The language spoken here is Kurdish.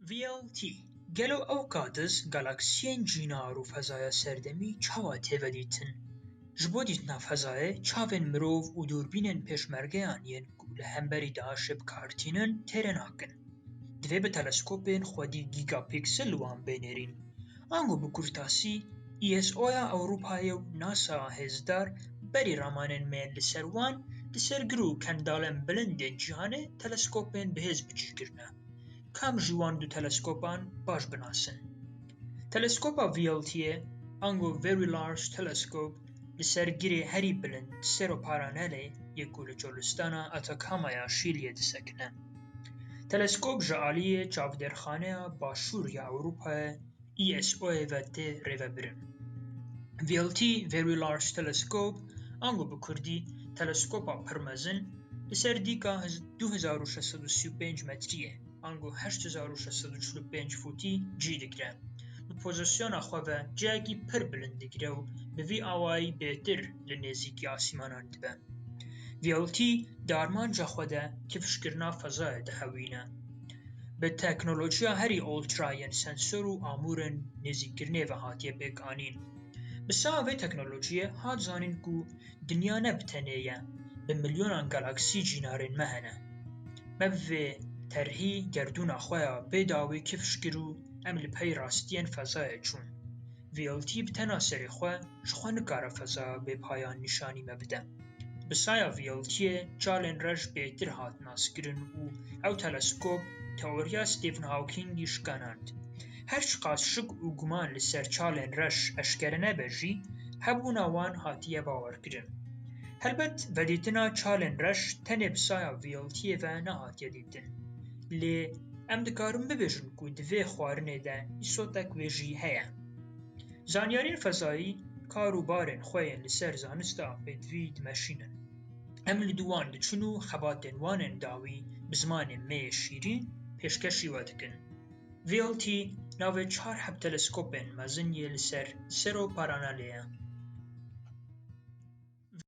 VLT, Gelo ew qadiz galaksiyên cînar û fezaya serdemî çawa têvedîtin? Ji bo dîtina fezayê çavên mirov û dûrbînên pêşmergeyan yên ku li hemberî DAIŞ'ê bi kar tînin têrê nakin. Divê bi teleskopên xwedî gîgapîksel wan bê nêrîn. Ango bi kurtasî ISO'ya Ewropayê û NASA'ya hêzdar berî ramanên me yên li ser wan, li ser gir û kendalên bilindên cîhanê teleskopên bihêz bi cî kirine. kam ji wan du teleskopan baş binasin. Teleskopa VLT'ê ango Very Large Telescope li ser girê herî bilind Cerro Paranelê yê ku li Çolistana Atacama ya Şîliyê disekine. Teleskop ji aliyê Çavdêrxaneya Başûr ya Ewropayê ISO'yê ve tê rêvebirin. VLT, Very Large Telescope, ango bi kurdî teleskopa pir mezin, li ser dîka 2635 metrîyê, ango 8645 fûtî cî digire. Bi pozisyona xwe ve ciyekî pir bilind digire û bi vî awayî bêtir li nêzîkî asîmanan dibe. VLT di armanca xwe de kifşkirina fezayê dihewîne. Bi teknolojiya herî ultra yên sensor û amûrên nêzîkkirinê ve hatiye pêkanîn. Bi sawa vê teknolojiyê hat zanîn ku dinya ne bi tenê ye, bi milyonan galaksî cînarên me hene. Me bi vê terhî gerdûna xwe ya bê dawî kifş kir û em li pey rastiyên fezayê çûn. VLT bi tena serê xwe ji xwe nikare fezaya bêpayan nîşanî me bide. Bi saya VLT-yê çalên rej bêtir hat naskirin û ew teleskop teoriya Stephen Hawkingî şikanand. Her çiqas şik û guman li ser çalên rej eşkere nebe jî, hebûna wan hatiye bawerkirin. Helbet vedîtina çalên rej tenê bi saya VLT-yê ve nehatiye dîtin. din. Lê em dikarin bibêjin ku di vê xwarinê de îsotek wê jî heye. Zanyarên fezayî kar û barên xwe yên li ser zanista pêdivî dimeşînin. Em li dû wan diçin û xebatên wan ên dawî bi zimanê me yê şîrîn pêşkêşî we dikin. VLT navê çar heb teleskopên mezin yê li ser Sero Paranalê ye.